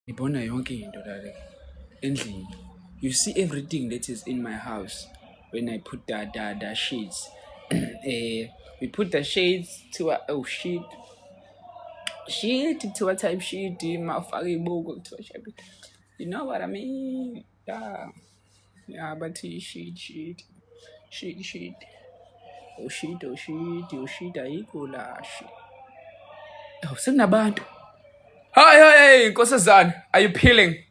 ngibona yonke into lale endlini you see everything that is in my house when i put the, the, the shades eh we put the shades to a, oh shit shit to a time shit mafaka ibuko kuthiwa you know what i mean Ya. Ya bathi shit shit. Shit shit. Oh shit oh shit oh shit ayikho la shit. Oh sekunabantu. Hi hi hey nkosazana. Are you peeling?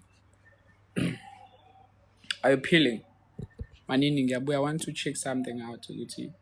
Are you peeling? Manini ngiyabuya I want to check something out ukuthi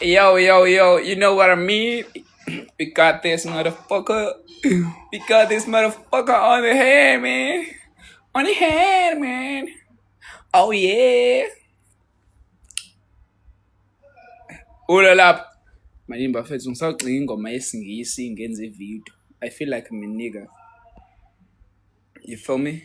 Yo, yo, yo, you know what I mean? We got this motherfucker. We got this motherfucker on the hand, man. On the hand, man. Oh, yeah. Ula lapho. Manje bafethu ngisagcina ingoma yesingisi ngenze ivideo. I feel like I'm a nigga. You feel me?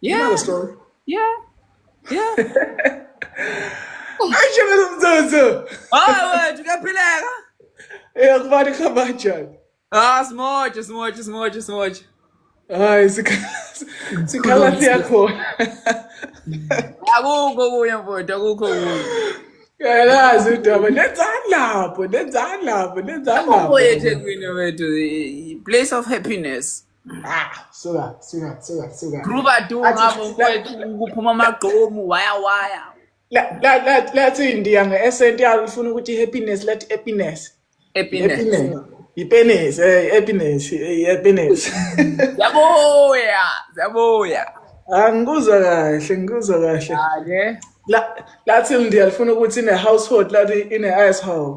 You know the story. Yeah. Yeah. Aisha ndo mzozo. Ah, wewe tukapeleka. Eh, akubali kama njani? Ah, smoja, smoja, smoja, smoja. Ai, sikhala yakho. Akukho kuya mfowethu, akukho kuya. Yalazi udaba, nenzani lapho, nenzani lapho, nenzani lapho. Akukho eThekwini wethu, place of happiness. suka suka suka suka gruba tu ngabo kwethu kuphuma amagqomu waya waya lathi indiya nge-esent yalo lifuna ukuthi i-happiness lathi happiness yipenis happiness happiness ziyabuya ziyabuya angikuzwa kahle ngikuzwa kahle lathi indiya lifuna ukuthi ine-household lathi ine-asshole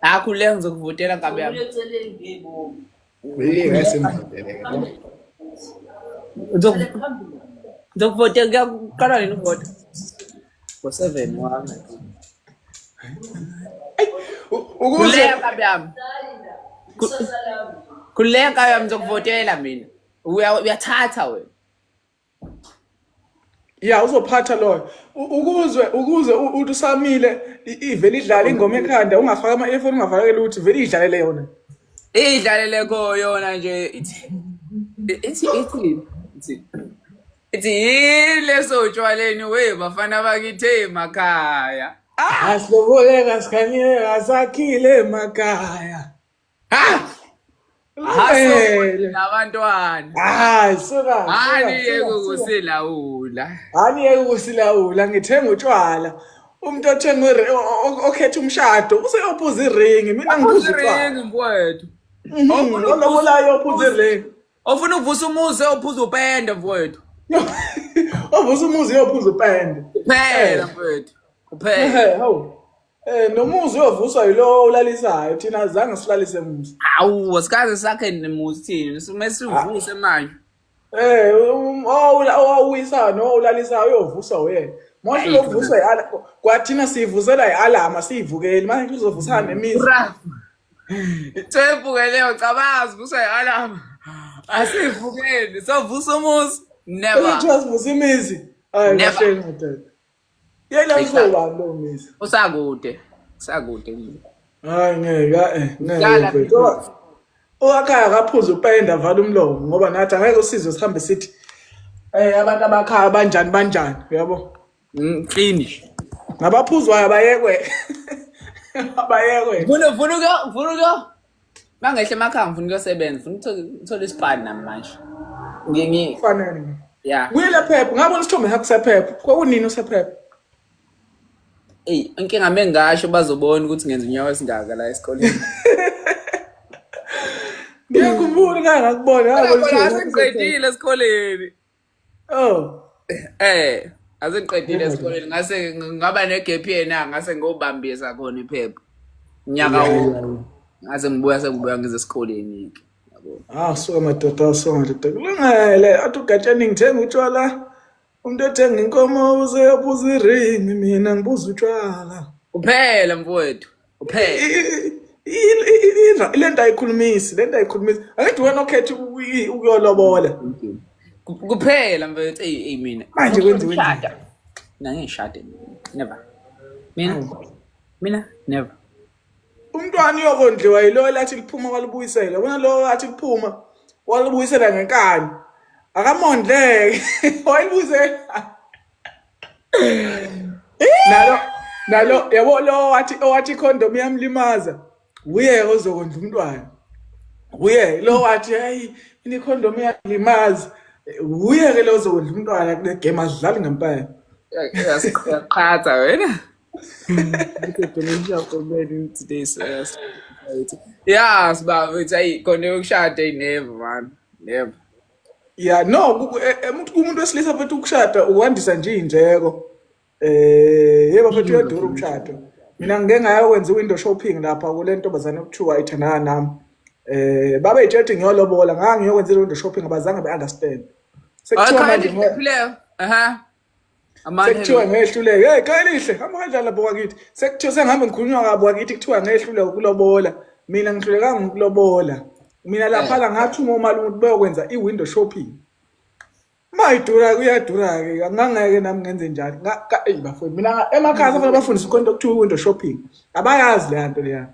akhululeka ngizokuvotela nkabi yami Hey, guys, emvutele. Ngizoku- ngizokuvotela kuya kuqala nini ukuvota ngo-seven wami Ukuze khululeka nkabi yami Khu- khululeka nkabi yami ngizokuvotela mina Uya- uyathatha wena ya uzophatha loyo ukuzwe ukuzwe uthi usamile ivele idlala ingoma ekhanda ungafaka ama earphone ungafaka lutho vele idlalele yona idlalele ko yona nje ithi ithi ithi ithi yile sotshwaleni we bafana bakithe emakhaya asiloboleka sikhanyeka sakhile emakhaya abantwana hayi suka hani yeke ukusilawula hani yeke ukusilawula ngithenga utshwala umuntu othenga okhetha umshado useyophuza iringi mina ngibuza iringi mfowethu mhm, olobolayo ophuza iringi ofuna ukuvusa umuzi ophuza upende mfowethu ovusa umuzi yophuza upende phela mfowethu uphela Eh nomuzi uyovuswa yilowo ulalisayo thina azange silalise muzi. Awu asikaze sakhe nemuzi thina sime sivuse manje. Eh um- oh, ula- owawuyisa no ulalisayo uyovuswa wena. Manje Ayi, uyovuswa yiala kwathina sivusela yialama sivukeli manje kuzovusana nemizi. Ura. Thembu ke leyo cabanga sivuswa yialama. Asivukeli sovusa umuzi. Never. Kuthiwa sivusa imizi. Hayi Never. kahle ndoda. Yena uzoba lo misa. Usakude. Usakude. Hayi ngeke eh ngeke. Owakhaya akaphuza upenda vala umlomo ngoba nathi angeke usizwe sihambe sithi eh abantu abakhaya banjani banjani uyabo. Mm, finish. Ngabaphuzwayo abayekwe. Abayekwe. Vunuka vunuka mangehle emakhaya ngifuna ukuyosebenza funa ngithole isipani nami manje ngingi fanele ya wile phepha ngabona isithombe sakho sephepha kwakunini usephepha eyi inkinga me ngasho bazobona ukuthi ngenza unyawo esingaka la esikoleni ngiyakhumbula ngangakubona ngiqedile esikoleni Oh. Eh, asengiqedile esikoleni ngase ngaba negap year na ngase ngobambisa khona iphepha. Nyaka Yeah, wonke. yeah, yeah. Ngase ngibuya sengibuya ngize esikoleni ke. Yabo. Ah, so madoda, so madoda. Kulungile, athi ugatsheni ngithenga utshwala. Umuntu ethenga inkomo uze ubuza iring, mina ngibuza utshwala. Kuphela mfowethu. Uphele. Lento ayikhulumisi, lento ayikhulumisi. Angithi wena okhetha ukuyolobola. Kuphela mfethu ey mina. Manje kwenziwe njani? Mina ngishade never. Mina mina never. Umntwana uyokondliwa yilo elathi liphuma kwalibuyisela. Wena lo athi liphuma walibuyisela ngenkani. Akamondleke. Wayibuyisela. nalo nalo yabo lo wathi owathi condom yamlimaza uye ozokondla umntwana uye lo wathi hayi ini condom yalimaza uye ke lo ozokondla umntwana kule game adlali ngempela yasiqhatha wena Kudenisha komeni today so yes. Yeah, sibaba, it's ayi khona yokushada inever man. Never. ya no ku- ku- e- e- umuntu kumuntu wesilisa futhi ukushada ukwandisa nje iy'ndleko eh yebo futhi uyadura umshado mina ngike ngayokwenza i-window shopping lapha kule ntombazane okuthiwa ithandana nami eh babe yitshela ukuthi ngiyolobola ngangiyokwenza i-window shopping abazange be-understand sekuthiwa manje Ayikhona nje ngoba- iphileyo. Aha. Amanye sekuthiwa ngehluleke hey qelihle hamba kanjani lapho kwakithi sekuthiwa sengihambe ngikhulunywa kabo kwakithi kuthiwa ngehluleke ukulobola mina ngihlulekanga ukulobola mina lapha la ngathi uma umalume ukuthi beyokwenza i-window shopping mayidura kuyadura-ke ngangeke nami ngenze njalo eyi bafowethu mina emakhaya safanele bafundise khona into okuthiwa i-window shopping abayazi leya nto leya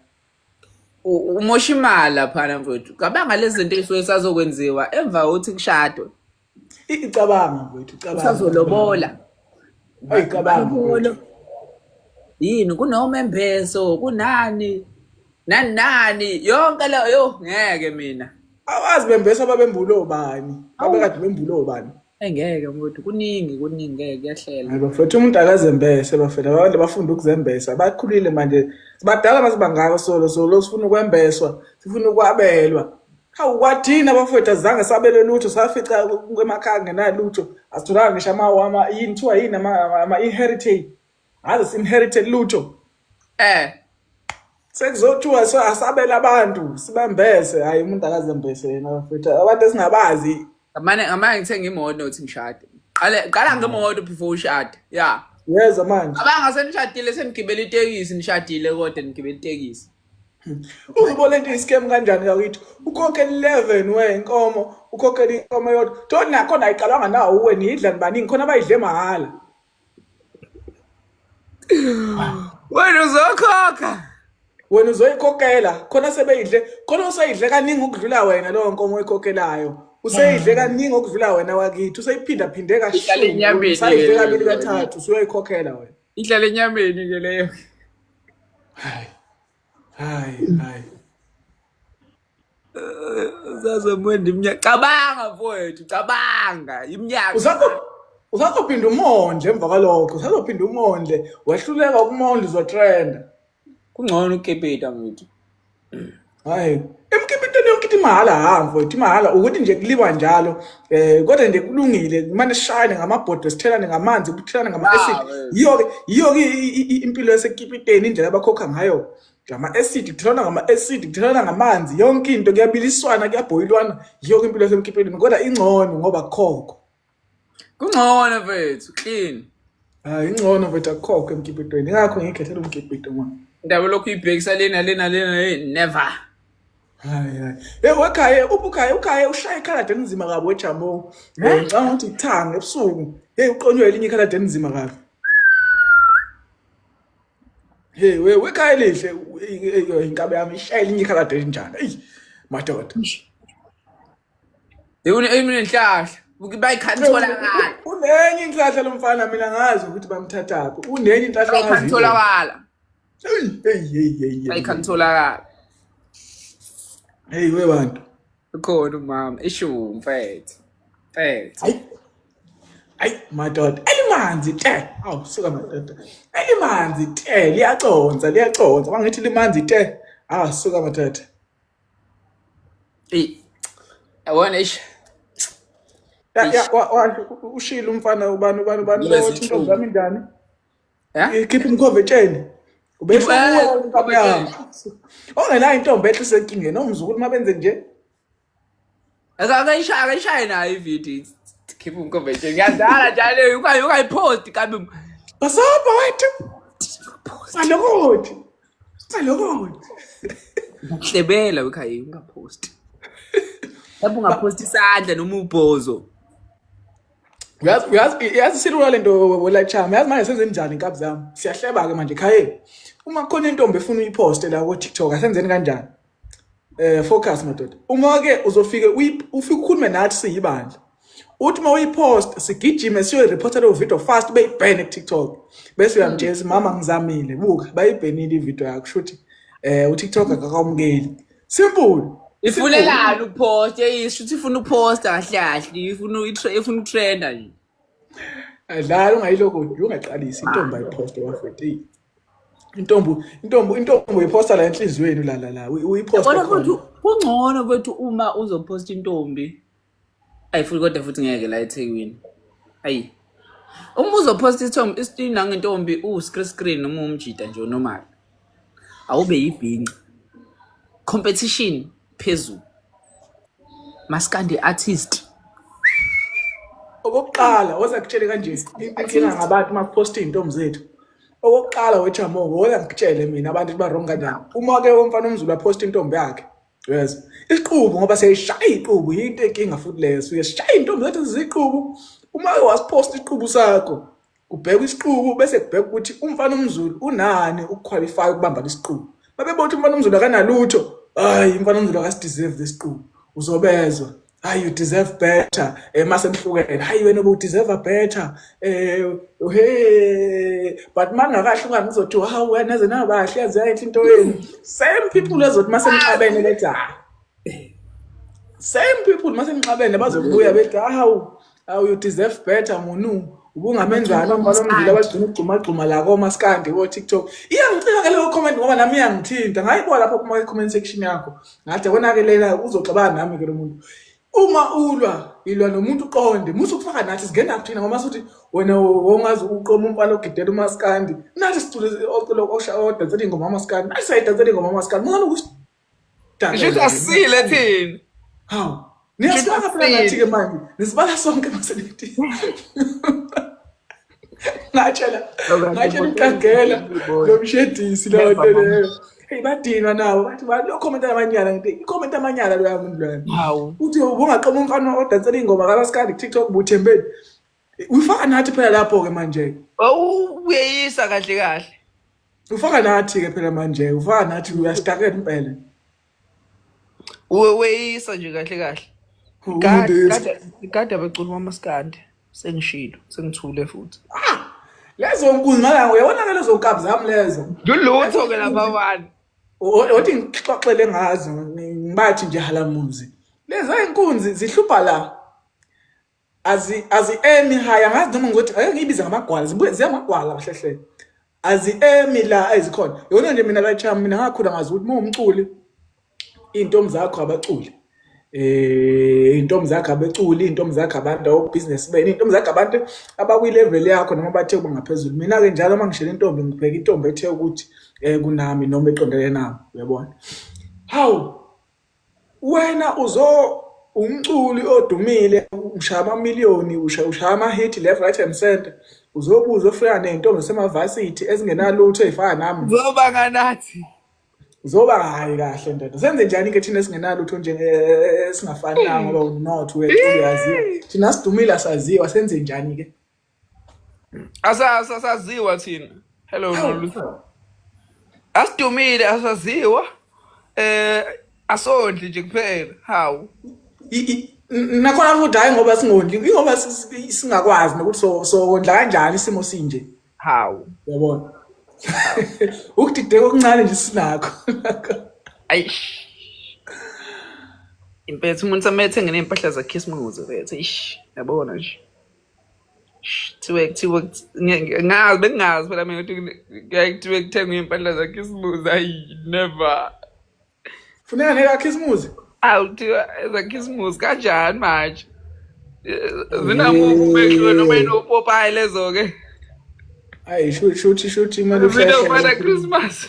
u- umosha imali laphana mfowethu cabanga lezi zinto ey'suke zisazokwenziwa emva kokuthi kushadwe icabanga mfowethu icabanga usazolobola ayicabanga yini kunomembeso kunani nani nani yonke leyo yo ngeke mina awazi bembeso ababembula obani abekade bembula obani engeke mfowethu kuningi kuningi ngeke kuyahlela hayi bafethu umuntu akazembese bafethu abantu bafunda ukuzembesa bakhulile manje sibadala mase bangaka solo solo sifuna ukwembeswa sifuna ukwabelwa Hawu kwathina abafowethu azange sabele lutho safica emakhaya ngenalutho asitholanga ngisho ama yini kuthiwa yini ama-inheritate ngaze si-inherite lutho um sekuzothiwa so asabele abantu sibambese hhayi umuntu akazembese yena bafowethu abantu esingabazi ngamane ngamane ngithenga imoto nothi ngishade qale qala ngemoto before ushade ya yeza manje abangase nishadile senigibela itekisi nishadile kodwa nigibela itekisi Uzibona into i-scam kanjani kakithi? Ukhokhela 11 we inkomo, ukhokhela inkomo yodwa. Toni nakho nayiqalwanga nawo uwe niyidla nibaningi khona bayidle mahhala. Wena uzokhokha. Wena uzoyikhokhela khona sebeyidle khona usayidle kaningi ukudlula wena leyo nkomo oyikhokhelayo. Useyidle mm. kaningi okudlula wena wakithi, useyiphinda phinde kashumi. Usayidle kabili kathathu, usuyoyikhokhela wena. ihlala enyameni ke leyo hayi hayi hayi uzazomwenda iminyaka cabanga mfowethu cabanga iminyaka Usazo- usazophinda umondle emva kwalokho usazophinda umondle wehluleka ukumondla uzotrenda Kungcono ukukipita mfethu. Hayi, emkipiteni yonke ithi mahhala ha mfethu, imahhala ukuthi nje kuliwa njalo. Eh kodwa nje kulungile, kumane sishayane ngamabhodwe, sithelane ngamanzi, kuthelane ngama acid. Ah, eh. Yiyo ke, yiyo ke i- i- i- impilo yasekipiteni indlela abakhokha ngayo. Ngama acid, kuthelana ngama acid, kuthelana ngamanzi, yonke into kuyabiliswana, kuyabhoyilwana. Yiyo ke impilo yasemkipiteni kodwa ingcono ngoba kukhokho. Kungcono mfethu, clean. Hayi ingcono mfethu akukhokho emkipitweni. Ingakho ngikhethela umkipito manje. Indaba lokhu ibhekisa lena lena lena hey, never. Hayi hayi. Hey wekhaya ubukhaya ukhaya ushaya ikhaladi elinzima kabi wejamo. Eh? Ngicabanga ukuthi ithanga ebusuku. Hey uqonywe elinye ikhaladi elinzima kabi. Hey we wekhaya lihle u- i- i- inkabi yami ishaya elinye ikhaladi elinjani. Ey madoda. Unenhlahla. Bayikhanithola ngala. Unenye inhlahla lomfana mina ngazi ukuthi bamthathaphi. Unenye inhlahla ngazi. Bayikhanithola ngala. Hey hey hey hey. Bayikhanithola ngala. Hey we bantu. Ukhona umama isho mfethu. Mfethu. Hayi. Hayi madoda. Elimanzi te. Aw suka madoda. Elimanzi te liyaconsa liyaconsa. Bangithi limanzi te. Ah suka madoda. Eyi, yabona eish. Ya, ya, Eish. wa- wa- u- ushilo umfana ubani ubani ubani Lezi lowothi intombi nsuku. yami ingane Eh? ikhipha umkhove etsheni ubesho Ikhipha- kuwe eh, intombi yami ongenayo intombi ehle isenkingeni omzukulu uma benze nje akayishaye nayo ividiyo khipha umkomenti ngiyadala njalo ukayiphosti kambe basobha wethu salokothi salokothi uhlebela wekhaya ungaphosti lapho ungaphosti isandla noma ubhozo yazi silula le nto welachama yazi manje senzeni njani inkabi zami siyahleba-ke manje khayeni uma kukhona intombi efuna uyiphoste la ko-tiktok asenzeni kanjani eh focus madoda uma ke uzofike ufike ukhulume nathi siyibandla uthi uma uyipost sigijime siyoyireporta leyo video fast beyibhene kuTikTok bese uyamtshela mama ngizamile buka bayibhenile ivideo yakho shuthi eh uTikTok akakwamukeli simple ifunelani ukupost yeyisho ukuthi ifuna ukuposta kahle kahle ifuna ifuna utrenda nje adlala ungayiloko ungaqalisi intombi ayiposte wafetile intombo intombo intombo iphosta la enhliziyweni la la la uyiphosta Kodwa khona. futhi kungcono kwethu uma uzophosta intombi. Ayi futhi kodwa futhi ngeke la eThekwini. Ayi. Uma uzophosta isithombe isithina ngentombi u screen screen noma umjita nje normal. Awube yibhinqa. Competition phezulu. Maskandi artist. okokuqala oza kutshele kanje inkinga ngabantu uma kuposta izintombi zethu okokuqala wechamongo woya ngikutshele mina abantu ukuthi ba-wrong kanjani uma ke umfana omzulu aphosta intombi yakhe yes isiqubu ngoba siyayishaya iqubu yinto enkinga futhi leyo suke sishaya intombi zethu ziziqubu uma ke wasiphosta isiqubu sakho kubhekwa isiqubu bese kubheka ukuthi umfana omzulu unani ukuqualify ukubamba lesiqubu babebona ukuthi umfana omzulu akanalutho hayi umfana omzulu akasideserve lesiqubu uzobezwa hayi you deserve better eh mase nihlukene hayi wena u deserve better eh hey but mangakahluka ngizothi wow wena ze nabahle yazi yayinhle into yenu same people ezothi mase nixabene bethi hayi same people mase nixabene bazobuya bethi hawu awu you deserve better munu ubungamenzani umfana omndile abagcina ukugxumagxuma la komaskandi ko-tiktok iyangicika ke leyo comment ngoba nami iyangithinta ngayibuka lapho kuma-comment section yakho ngathi konakelela uzoxabana nami ke lo muntu uma ulwa ilwa nomuntu uqonde musa ukufaka nathi singena kuthina ngoba suthi wena wongazi uqoma umfana ogidela umaskandi nathi sicule ocula odansela ingoma amaskandi nathi sayidansela ingoma amaskandi mungani ukuthi Ngisho ukuthi asile thina. Hawu. Niyasibala phela ngathi ke manje. Nisibala sonke masenidi. Ngatshela. Ngatshela uqagela lo mshedisi lo ntelelo. Hey badinwa nawo bathi ba lo comment amanyala ngithi i comment amanyala lo yamuntu lwana. Hawu. Uthi ubungaqoma umfana odansela ingoma kalaskandi TikTok buthembeni. Uyifaka nathi phela lapho ke manje. Oh uyeyisa kahle kahle. Ufaka nathi ke phela manje, ufaka nathi uyastakela impela. Uyeyisa nje kahle kahle. Kade kade abaculi mamaskande sengishilo sengithule futhi. Ah! Lezo nkunzi ngala uyabona ke lezo nkabi zami lezo. Ngilutho ke lapha wani. Othi ngixoxele ngazo ngibathi nje halamuzi. Leza inkunzi zihlupha la. azi azi emi haya ngazi noma ngothi ake ngibize ngamagwala zibuye ziyamagwala kahle hle azi emi la ayizikhona yona nje mina la chama mina ngakhula ngazi ukuthi mawumculi intombi zakho abaculi eh intombi zakho abeculi intombi zakho abantu awu business bene intombi zakho abantu abakwi level yakho noma bathe kuba ngaphezulu mina ke njalo uma ngishela intombi ngibheka intombi ethe ukuthi eh kunami noma eqondele nami uyabona hawu Wena uzo umculi odumile ushaya amamiliyoni ushaya ama-hit left right and center uzobuza ofika ney'ntombi zasemavasithi ezingenalutho ey'fana nami zoba nganathi zoba hhayi kahle ndoda senze njani-ke thina esingenalutho esingafani nango ngoba umnotho wethu uyaziwa thina sidumile asaziwa senze njani-ke Asa asaziwa thina. Hello Noluthando. Asidumile asaziwa. Eh asondli nje kuphela. Hawu. I- i- n- nakhona futhi hhayi ngoba singondli ingoba si- si- singakwazi nokuthi so- sokondla kanjani isimo sinje Hawu. yabona ukudideka okuncane nje sinakho Ayish. Impethu umuntu amethe ngenempahla zakhisimuzi vethu. Ish. Yabona nje. kuthiwe kuthiwe ngazi bengingazi phela mina ukuthi kuyaye kuthiwe kuthengwe iy'mpahla zakhisimuzi ayi never funeka nekakhisimuzi awu kuthiwa ezakhisimuzi kanjani manje zinamubekiwe noma inopopayi lezo-ke ayi shuthi shuthi imali zinokuba na-christmas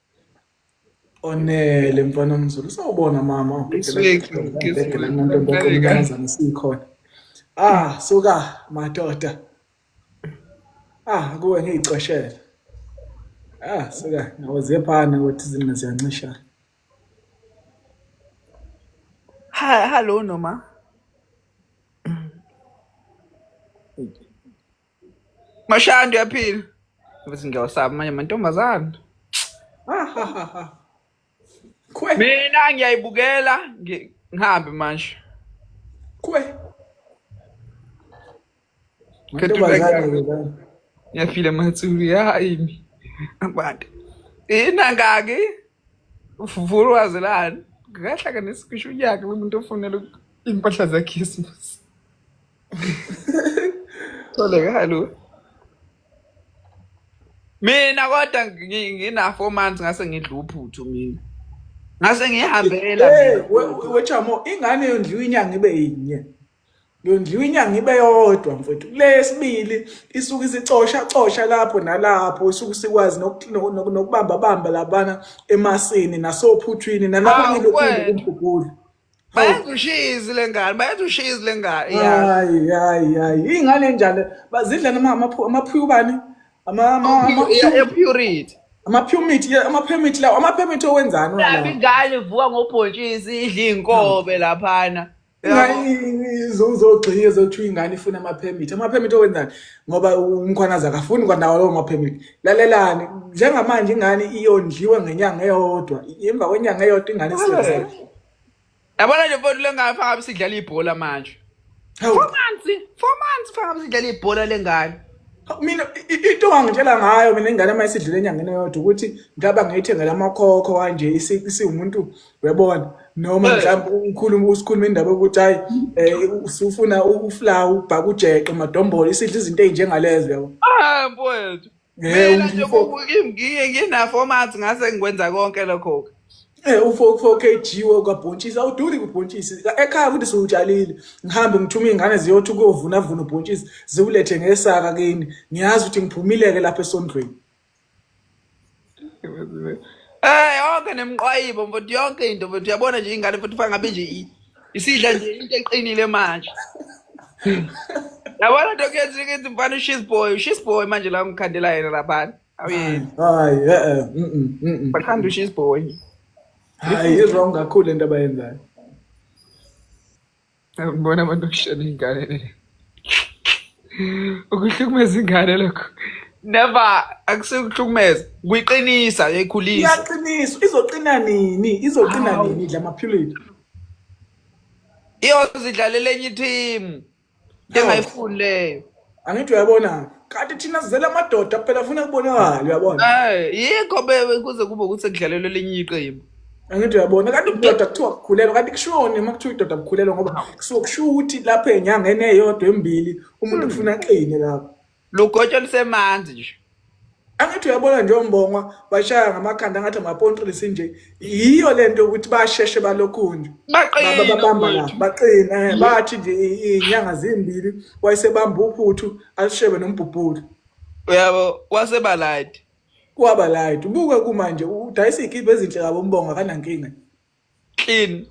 Onele mfana omzulu sawubona mama ubhekelaamantombazane sikhona ah suka madoda ah kuwe ngiyixoshela ah suka nawe ziyephana ukuthi izinqa ziyancishana hello noma Mashandi uyaphila. Bese ngiyawusaba manje mantombazana. Kwe. Mina ngiyayibukela ngi- ngihambe manje. Kwe. Mantombazane ke la. Ngiyafile mathuli yayimi. Abantu. Ina ngaki uvulu wazelani. Ngahlanganisa kusho unyaka umuntu ofunela impahla zeKhisimusi. Tholekalo. Mina kodwa ngina 4 months ngase ngidla uphuthu mina. Ngase ngihambela mina. Wechamo ingane yondliwa inyanga ibe yinye. Yondliwa inyanga ibe yodwa mfowethu. Lesibili isuke isicosha cosha lapho nalapho isuke sikwazi nokubamba bamba labana emasini nasophuthwini nalapho ngilokhu kumgugulu. bayenza ushizi le ngane bayenza ushizi le ngane ya hayi hayi hayi ingane enjalo bazidla noma amaphu- amaphuyubani ama ama- ama- Ya- ya purity amapyumit ye- amapyumit lawo amapyumit owenzani wena Lapha lawo? ingane ivuka ngobhontshisi idla iy'nkobe laphana Ingane izogxia ezothiwa ingane ifuna amapyumit amapyumit owenzani ngoba umkhwanazi akafuni kwanawo lawo mapyumit lalelani njengamanje ingane iyondliwe ngenyanga eyodwa imva kwenyanga eyodwa ingane isizele yabona nje mfowethu lengane fangabe sidlala ibhola manje four months four months fangabe sidlala ibhola lengane mina into angitshela ngayo mina ingane uma isidlule enyangeni eyodwa ukuthi ngaba ngiyithengela amakhokho kanje isiwumuntu uyabona noma Eh. mhlawumbe ukhuluma usikhuluma indaba yokuthi hayi um usufuna ukufla ubhaka ujeqe madombolo isidla izinto ey'njengalezo yabo Ah mfowethu. Eh, Mina nje umfo- ku- kimi ngiye ngina format ngase ngikwenza konke lokho. Eh, ufo ufo KG wakabhontshisi awuduli kubhontshisi ekhaya ukuthi siwutshalile ngihambe ngithume iy'ngane ziyothi ukuyovunavuna ubhontshisi ziwulethe ngesaka kini ngiyazi ukuthi ngiphumileke lapha esondweni Eh yonke nemqwayibo mfowethu yonke into mfowethu uyabona nje ingane mfowethu ufaka ngabe nje i- isidla nje into eqinile manje. Yabona nto kuyenza ukuthi mfana ushis boy ushis boy manje la ngikhandela yena laphana. Awuyeni hayi eh eh, mm, mm, mm, mm. bakhanda ushis boy. hayi izwa ungakhulu into abayenzayo Ngibona abantu okushela iy'ngane le. Ukuhlukumeza ingane lokho. Never akusekuhlukumeza. Kuyiqinisa yayikhulisa. Iyaqiniswa izoqina nini? Izoqina Hawu. nini idla amaphilisi? Iyozidlalela enye ithimu. Engayifuni leyo. angithi uyabona kanti thina sizele amadoda kuphela funa kubonakala uyabona Eh, yikho be- kuze kube ukuthi sekudlalelwe elinye iqembu angithi uyabona kanti ubudoda kuthiwa kukhulelwa kanti kushoni uma kuthiwa idoda kukhulelwa ngoba kusuke kusho ukuthi lapho enyangeni eyodwa embili umuntu kufuna aqine lapho lugotsho lusemanzi nje angithi uyabona nje ombongwa bashaya ngamakhanda ngathi amapontrisi nje yiyo lento ukuthi basheshe balokhunje babamba la baqina eh, bathi nje inyanga zimbili wayesebamba uphuthu alishebe nombhubhulu uyabo wasebaladi kwaba light ubuke kumanje udayisa ikhiphe ezinhle kabo umbonga kanankinga clean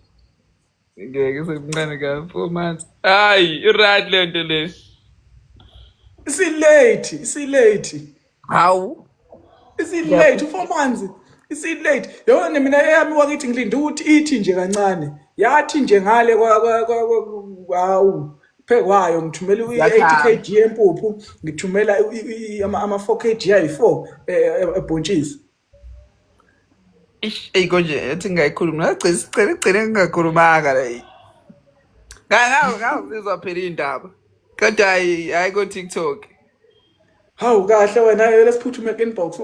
ngeke semncane ka four months hayi i-right le nto le isilate isilate hawu isilate u-four months isilate yona nemina eyami wakithi ngilinde ukuthi ithi nje kancane yathi nje ngale hawu phekwayo ngithumela i-80 kg yempuphu ngithumela ama-4 kg ayi-4 ebhontshisi Ish, eyi konje ethi ngayikhuluma nagcina sicela igcine ngingakhulumanga la eyi. Nga- nga- ngazizwa phela iy'ndaba kodwa hhayi hhayi ko-tiktok Hawu kahle wena yele siphuthume inbox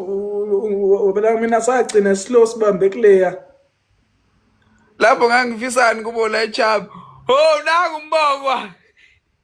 ubela mina sagcina slow sibambe kuleya. lapho ngangifisani kubona echaba ho nangu umbongwa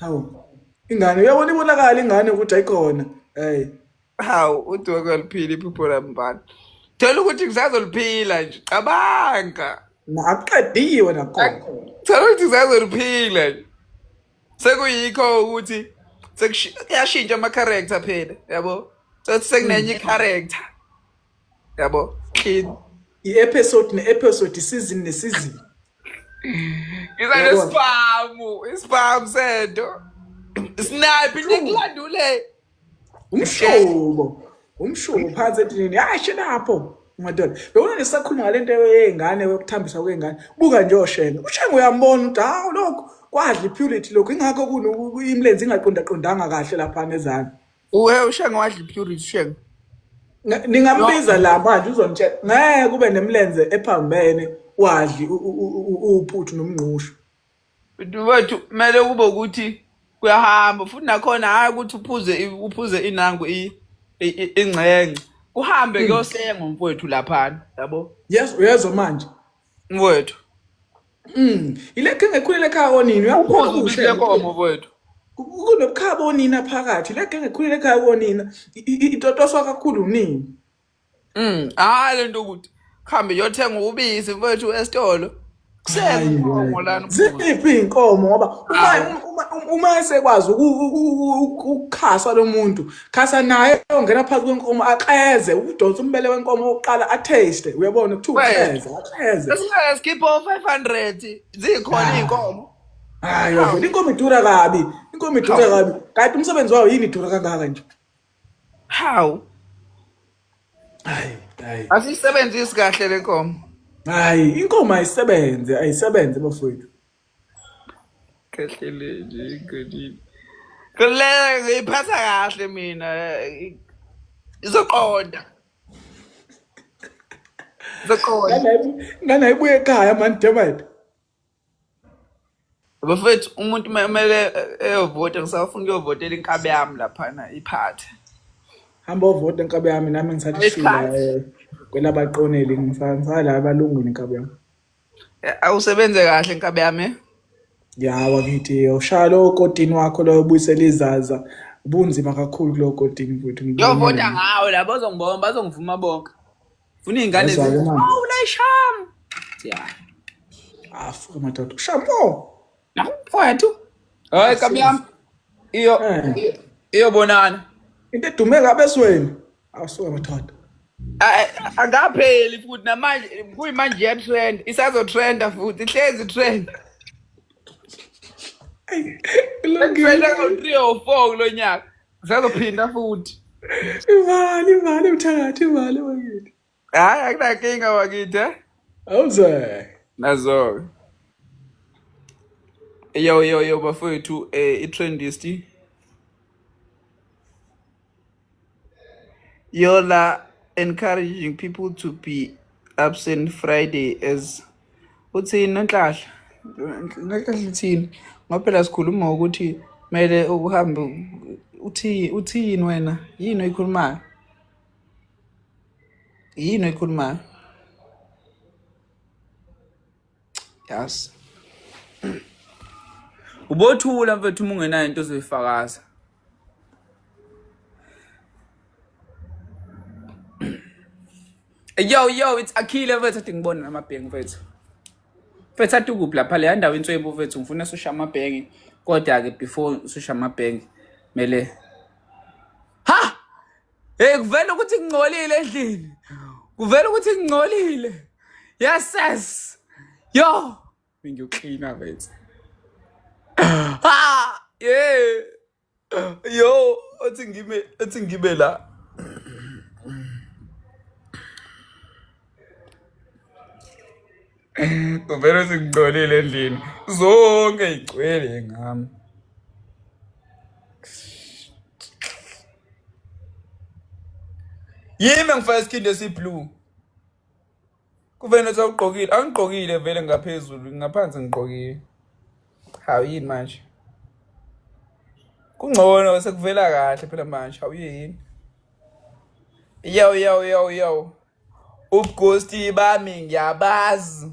Hawu. Ingane uyabona ibonakala ingane ukuthi ayikhona. Hey. Hawu uthi wakaliphila iphupho lami bani. Thola ukuthi ngisazoliphila nje. Cabanga. Nakuqediwe nakhona. Thola ukuthi ngisazoliphila nje. Sekuyikho ukuthi sekushintsha ama character phela yabo. Sothi sekunenye i character. yabo clean i-episode ne-episode isizini nesizini ngiza nesibhamu isibhamu sento snipe into ekulandule umshubo umshubo phansi etinini hayi shenapho madoda bewona ngisakhuluma ngale nto yey'ngane yokuthambisa kwey'ngane buka nje oshenge ushenge uyambona ukuthi hawu lokhu kwadla i-purity lokhu ingakho imlenze ingaqondaqondanga kahle laphana ezansi Uwe ushenge wadla ipurity shenge. Nga- ningambiza la manje uzonitshela ngeke kube nemlenze ephambene wadli u- u- u- u- uphuthu nomngqusho Wethu kumele kube ukuthi kuyahamba futhi nakhona hayi ukuthi uphuze i- uphuze inangu i- i- i- ingxengxe. Kuhambe kuyosenga mfowethu laphana yabo. yes uyezwa manje Mfowethu. Mm, ile ke ngekhulele ekhaya konini uyakhoza ukuthi le nkomo mfowethu. Kunobukhaba onina phakathi le ke ngekhulele ekhaya konina itotoswa kakhulu nini. Mm, hayi lento ukuthi khambe yothenga ubisi mfowethu esitolo. ziphi iy'nkomo ngoba uma esekwazi ukukhaswa lo muntu khasa naye ongena phansi kwenkomo axeze udonsa umbele wenkomo oqala ataste uyabona kuthiwa uxeze axeze Yes, keep on 500 zikhona Ah. iy'nkomo hayi wavele inkomo idura kabi inkomo idura kabi kanti umsebenzi wayo yini idura kangaka nje hawu hayi hayi asiyisebenzisi kahle le nkomo hayi inkomo ayisebenze ayisebenze bafowethu kahle le nje igonile kule ngiyiphatha kahle mina i- izoqonda izoqonda nganayibuye ekhaya mani demayt bafethu umuntu uma kumele eyovota ngisafuna ukuyovotela inkabi yami laphana iphathe hamba ovota nkabi yami nami ngithatha ishila Isikhathi. eh, kwelabaqoneli ngisala abalungwini nkabi yami awusebenze kahle nkabe yami eh? ya wakithi ushaya lowo kotini wakho loyo buyisela izaza ubunzima kakhulu kulowo kotini futhi yovota ngawo labo bazongibona bazongivuma bonke funa iy'ngane Yezwa ke manje. zisham afuke madoda ushampo mfowethu hayi nkabi yami iyo Eh. iyobonana into edume kabi esweni awusuka madoda A- a- akapheli futhi namanje kuyimanje iyatrend isazotrenda futhi ihlezi trend trenda ngo-three or four kulo nyaka isazophinda futhi imali imali mthakathi imali bakithi Hayi akunakinga wakithi eh? awuze nazo yo yo yo bafowethu eh, i-trendist yola encouraging people to be absent friday as uthini nonhlahla nonhlahla uthini ngoba phela sikhuluma ngokuthi kumele uhambe uthi uthini wena yini oyikhulumayo yini oyikhulumayo yazi ubothula mfethu uma ungenayo into ozoyifakaza yo yo it's akhile mfethu athi ngibone namabhengi mfethu mfethu athi ukuphi lapha leya ndawo inswebu mfethu ngifuna susha amabhengi kodwa-ke before susha amabhengi kumele Hey kuvela ukuthi kungcolile endlini. Kuvela ukuthi kungcolile. Yes yes. Yo. Ngiyocleana mfethu. Ah, yeah. Yo, othi ngime, othi ngibe la. Kuvela ukuthi kungcolile endlini. Zonke igcwele ngami. yimi engifaka isikhindi esiblue kuvele nothi awugqokile angigqokile vele ngaphezulu ngaphansi ngigqokile hawu yini manje kungcono sekuvela kahle phela manje hawu yini yawu yawu yawu yawu ubugosti bami ngiyabazi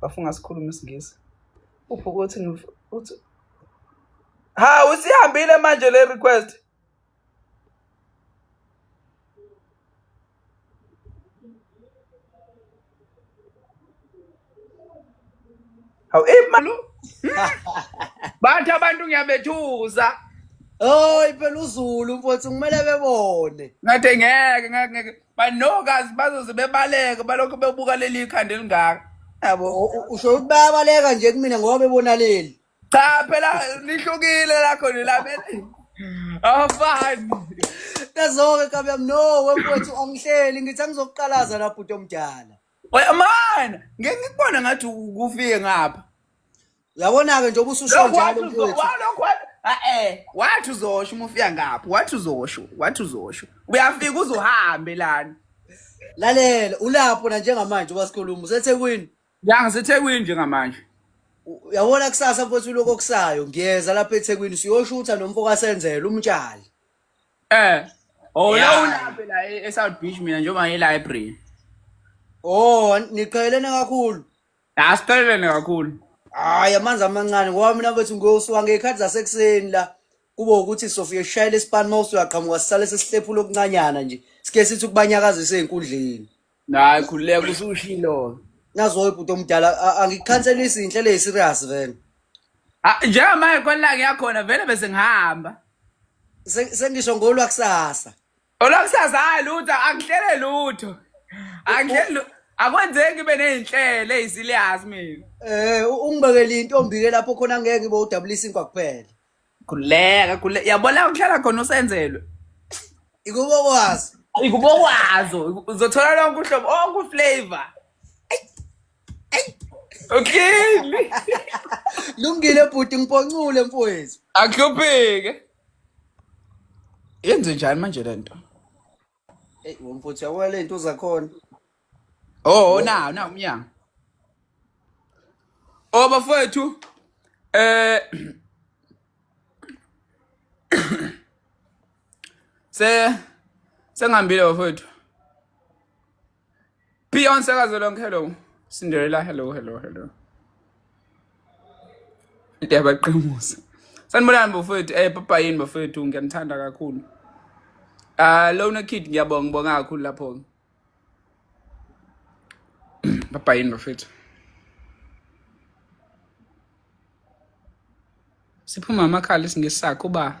bafunga sikhuluma isingisi upho ukuthi uthi ha usihambile manje le request Hawu imali. Bantu abantu ngiyabethuza. Oy phela uZulu mfowethu kumele bebone. Ngathi ngeke ngeke banokazi bazoze bebaleke balokho bebuka leli khanda elingaka. Yabo. Usho ukuthi bayabaleka nje kumina ngoba bebona leli. Cha phela lihlukile lakho lelabele. Awafani. Kazoke kabe mno wemfowethu angihleli ngithi angizokuqalaza lapho utomdala. Wemana, ngeke ngikubona ngathi ukufike ngapha. Uyabona-ke njengoba ususho Lokhu njalo wathi uzo- mfowethu. wa- lokhu wathi- Ah, eh, wathi uzosho uma ufika ngapha wathi uzosho wathi uzosho uyafika uze uhambe lana Lalela, ulapho na njengamanje ubasikhuluma useThekwini. ya ngisethekwini njengamanje U- Uyabona kusasa mfowethu lokho okusayo. Ngiyeza lapha eThekwini siyoshutha nomfo kaSenzela umtshali. Eh. Oh, la Yeah. ulaphe la e- eSouth Beach mina njengoba ngiyi-library. Oh, niqhelene kakhulu. La siqhelelene kakhulu. Hayi amanzi amancane ngoba mina bethu ngiyosuka ngey'khathi zasekuseni la kube ukuthi sofike sishayele isipani uma usuyaqhamuka sisale sesihlephula okuncanyana nje sike sithi ukubanyakazisa ey'nkundleni Hayi khululeka usushilo. Nazo ibhuti omdala a- angikukhanselisi inhlelo eyiserious vele. Ah, Njengamanje kwala ngiyakhona vele bese ngihamba. Se- Sengisho ngolwa kusasa. Olakusasa hayi lutho angihlele lutho. Angihlele lu- akwenzeki ngibe nezinhlelo ezilias mina. Eh u- ungibekele intombi ke lapho khona ngeke ngibe udabulisa inkwa kuphela. Khuleka, khuleka. Yabo la kuhlala khona usenzelwe. Ikubo kwazi. Ikubokwazo, uzothola lonke uhlobo, onke uflavor. Okay. Lungile bhuti ngiponcule mfowethu. Akuhlupheke. Yenze njani manje lento? Hey, womfuthu yabona le nto zakhona. Oh, na, na umnyango. Oh bafowethu eh se sengihambile bafowethu Beyonce Kazolong, hello. Cinderella, hello, hello, hello. Into yabaqemusa. Sanibonani bafowethu, eh papa yini bafowethu ngiyanithanda kakhulu. Ah lona kid ngiyabonga ngibonga kakhulu lapho. Papa yini bafowethu. Siphuma amakhala isingesakho ba.